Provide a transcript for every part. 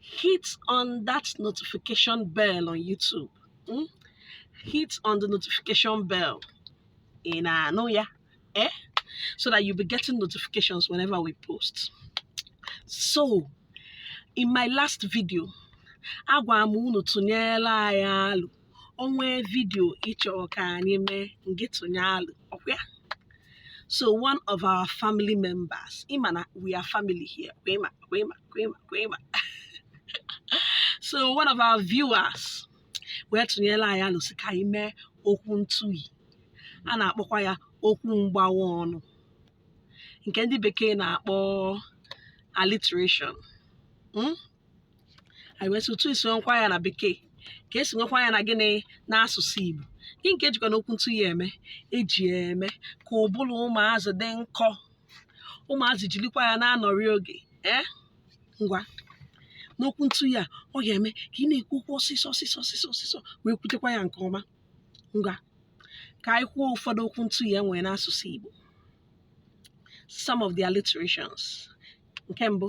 hit on that notification bell on YouTube hmm? hit on the notification bell ị na-anụ ya eh so that you'll be getting notifications whenever we post so in my last video agwara m unu tụnyere anyị alo o nwee video ị chọrọ ka anyị mee ngị tụnye alo ọkwa so one of our family members ịma na we are family here kwema kwema kwema kwema so one of our viewers wee tụnyere anyị alo sị ka anyị mee okwu ntụhị a na-akpọkwa ya okwu mgbawa ọnụ nke ndị bekee na-akpọ alliteration hmm? anyị wee sị otu esi nwekwa ya na bekee ka esi nwekwa ya na gịnị n'asụsụ igbo gịnị ka e jikwanụ okwu ntụhị a eme e ji ya eme ka ụbụrụ ụmụazị dị nkọ ụmụazị jirikwa ya na-anọri oge ee ngwanụ okwu ntụhị a ọ ga-eme ka ị na-ekwu okwu ọsịsọ ọsịsọ ọsịsọ ọsịsọ wee kwutekwa ya nke ọma ngwa ka anyị kwuo ụfọdụ okwu ntụhị e nwere n'asụsụ igbo some of the alliterations nke mbụ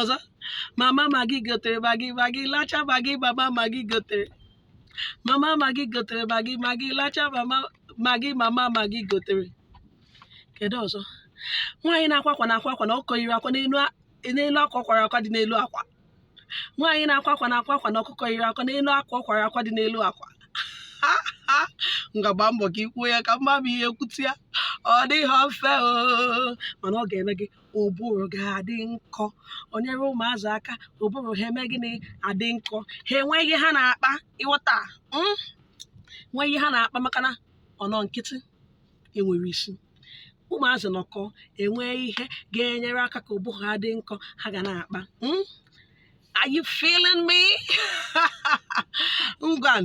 ọzọ mama magi gotere magi magi lacha magi mama magi gotere mama magi gotere magi magi lacha mama magi mama magi gotere kedu ọzọ nwaanyị na-akwa akwa na-akwa akwa na ọkụkọ yiri akwa n'elu a- n'elu akwa ọ kwara akwa dị n'elu akwa nwaanyị na-akwa akwa na-akwa akwa na ọkụkọ yiri akwa n'elu akwa ọ kwara akwa dị n'elu akwa ngwa gbaa mbọ ka i kwuo ya ka m ma ma ị ga-ekwute ya ọ dịghị mfe o mana ọ ga-eme gị ụbụrụ ga-adị nkọ o nyere ụmụazị aka ụbụrụ ha eme gịnị adị nkọ ha enwee ihe ha na-akpa ị ghọta mm? nwee ihe ha na-akpa maka na ọ nọ nkịtị enwerọ isi ụmụazị nọkọ e nwee ihe ga-enyere aka ka ụbụrụ ha dị nkọ ha ga na-akpa mm? Are you feeling me? Ngwan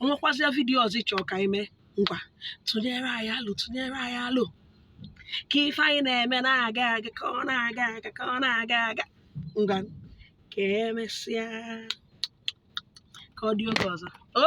o nwekwazia vidiyo ọzọ ị chọrọ ka anyị mee ngwa tụnyere anyị alo tụnyere anyị alo ka ife anyị na-eme na-aga aga ka ọ na-aga aga ka ọ na-aga aga ngwa ka e mesịa ka ọ dị oge ọzọ o